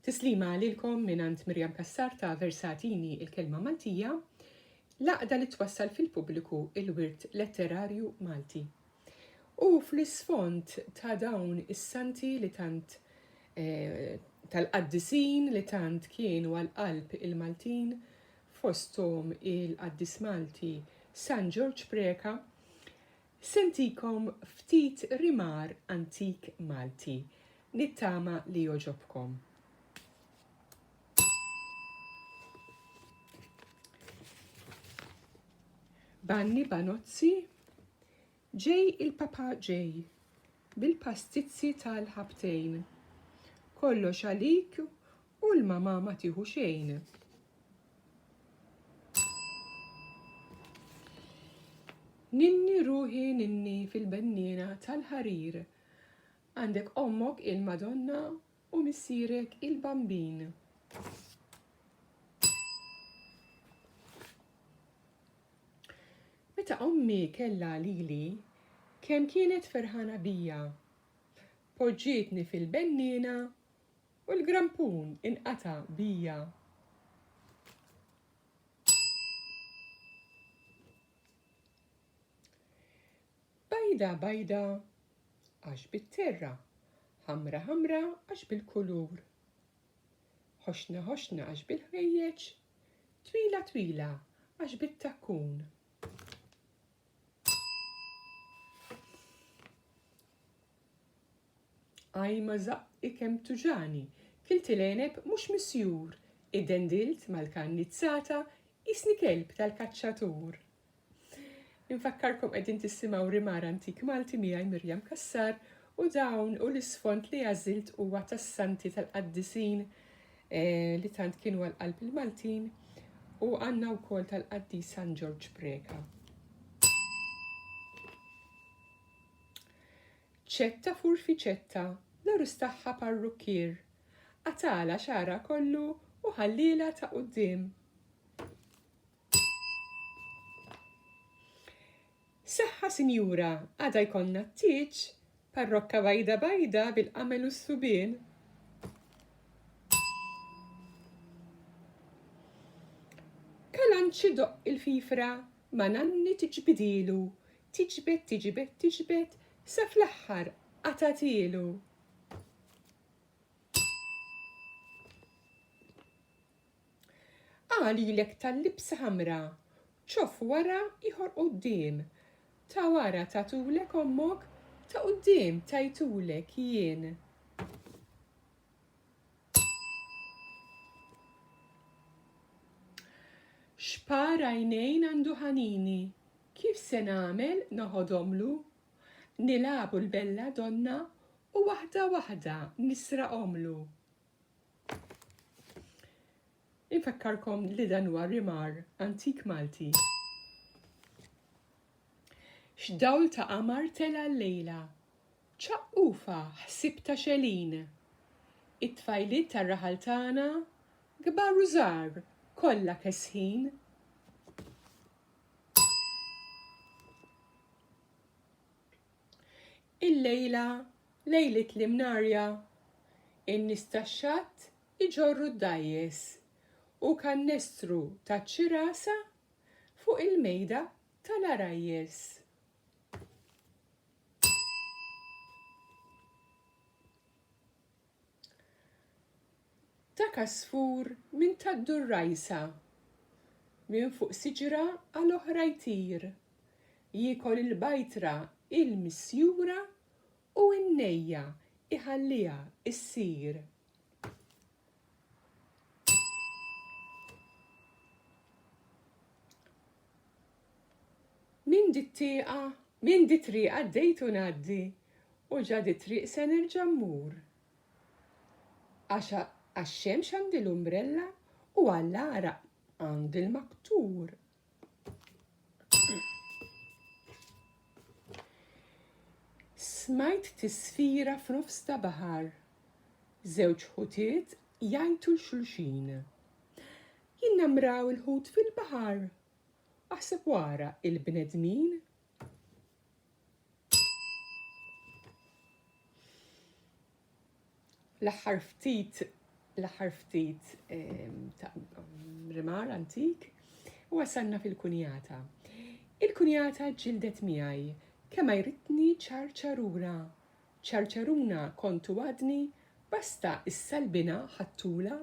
Tislima lilkom mingħand Miriam Cassar ta' Versatini il-Kelma Maltija, l-għaqda li twassal fil-pubbliku il-wirt letterarju Malti. U fl-isfond ta' dawn is-santi li tant eh, tal-qaddisin li tant kienu għal-qalb il-Maltin, fostom il-qaddis Malti San Ġorġ Preka, Se ntikom ftit rimar antik Malti, nittama li jogħġobkom. Banni banozzi, ġej il-papa ġej, bil-pastizzi tal-ħabtejn. Kollox għalik U l-mama ma tieħu xejn. Ninni ruħi ninni fil-bennina tal-ħarir. Għandek ommok il-Madonna u missirek il-bambin. Meta ommi kella lili, kemm kienet ferħana bija. Poġġietni fil-bennina U l-grampun inqata' bija. Bajda bajda għax bit-terra, ħamra ħamra għax bil-kulur. Ħoxna ħoxna għax bil-ħwejjeġ, twila twila għax bit-takkun. Ajma żaqqi kemm tuġani, kilt il-għeneb mhux misjur, iddendilt mal-kannizzata qisni kelb tal-kaċċatur. Infakkarkom qegħdin tissimgħu Rimar Antik Malti miegħi Miriam Cassar u dawn u l-isfond li għażilt huwa tas-santi tal-qaddisin eh, li tant kienu għal qalb il-Maltin u għandna wkoll tal-qaddis San Ġorġ Preka. Ċetta furfiċetta, nar istaħħa parrukkier, qatagħlha xagħarha kollu u ħallielha ta' quddiem. Saħħa sinjura, għada jkollna t-tieġ, parrokka bajda bajda bil-qamel u s-subien. Kalanċi doqq il-fifra ma' nanni tiġbidilu Tiġbed, tiġbed, tiġbed, sa fl-aħħar qatagħtielu. Qal ilek tal-libsa ħamra, ċof wara ieħor quddiem. Ta' wara tatulek ommok, ta' quddiem tajtulek jien. X'par għajnejn għandu Ħanini, kif se nagħmel noħodhomlu? Nilagħbu l-belladonna u waħda waħda nisraqhomlu. Infakkarkom li dan huwa rimar antik Malti. X'dawl ta' qamar tela' llejla, Ċaqqufha ħsieb ta' xegħlin. It-tfajliet tar-raħal tagħna, kbar u żgħar, kollha kesħin. Illejla, lejliet l-imnarja, in-nies tax-xatt iġorru d-dgħajjes u kannestru taċ-ċirasa fuq il-mejda tal-għarajjes. Ta' kasfur minn taddur rajsa, minn fuq siġra għal oħra jtir, jiekol il-bajtra il-misjura u n-nejja iħalliha issir. Min di t-tieqa, min di triqa d-dejtu naddi, u ġa di triq se nerġa' mmur. Għax-xemx għandi l-umbrella u għall-għaraq għandi l-maktur. Smajt tisfira f'nofs ta' baħar. Żewġ ħutiet jajtu l-xulxin. Jinnamraw il-ħut fil-baħar. Aħseb wara il-bnedmin. L-aħħar ftit l-aħħar ftit ta' rimar antik u wasalna fil-kunjata. Il-kunjata ġildet miegħi kemm ma jritni ċarċarura. Ċarċaruna kontu għadni basta is-salbina ħattula.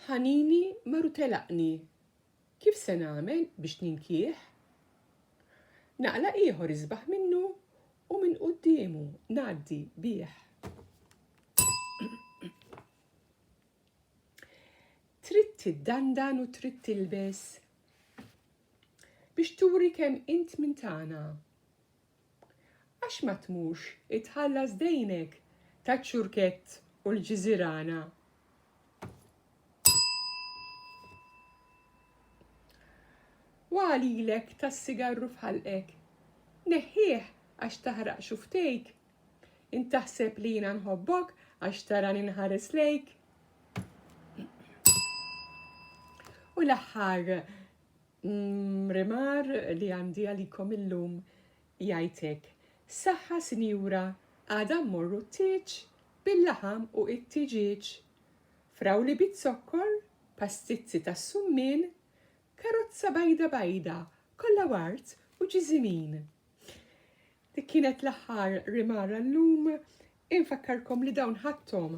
Ħanini maru telaqni Kif se nagħmel biex ninkih? Naqla' ieħor isbaħ minnu u minn quddiemu ngħaddi bih. Trid tiddandan u trid tilbes biex turi kemm int minn tagħna. Għax ma tmurx itħallas dejnek taċ-ċurkett u l-ġiżirana? Waqgħa lilek tas-sigarru f'ħalqek. Neħħih għax taħraq xuftejk. Int taħseb li jiena nħobbok għax tarani nħares lejk. U l-aħħar L-imrimar li għandi għalikom illum jgħid hekk, Saħħa sinjura għada mmorru t-tieġ bil-laħam u it-tiġieġ, frawli biz-zokkor, pastizzi tas-summien, karozza bajda bajda kollha ward u ġiżimin. Dik kienet l-aħħar rimar għallum, infakkarkom li dawn ħadthom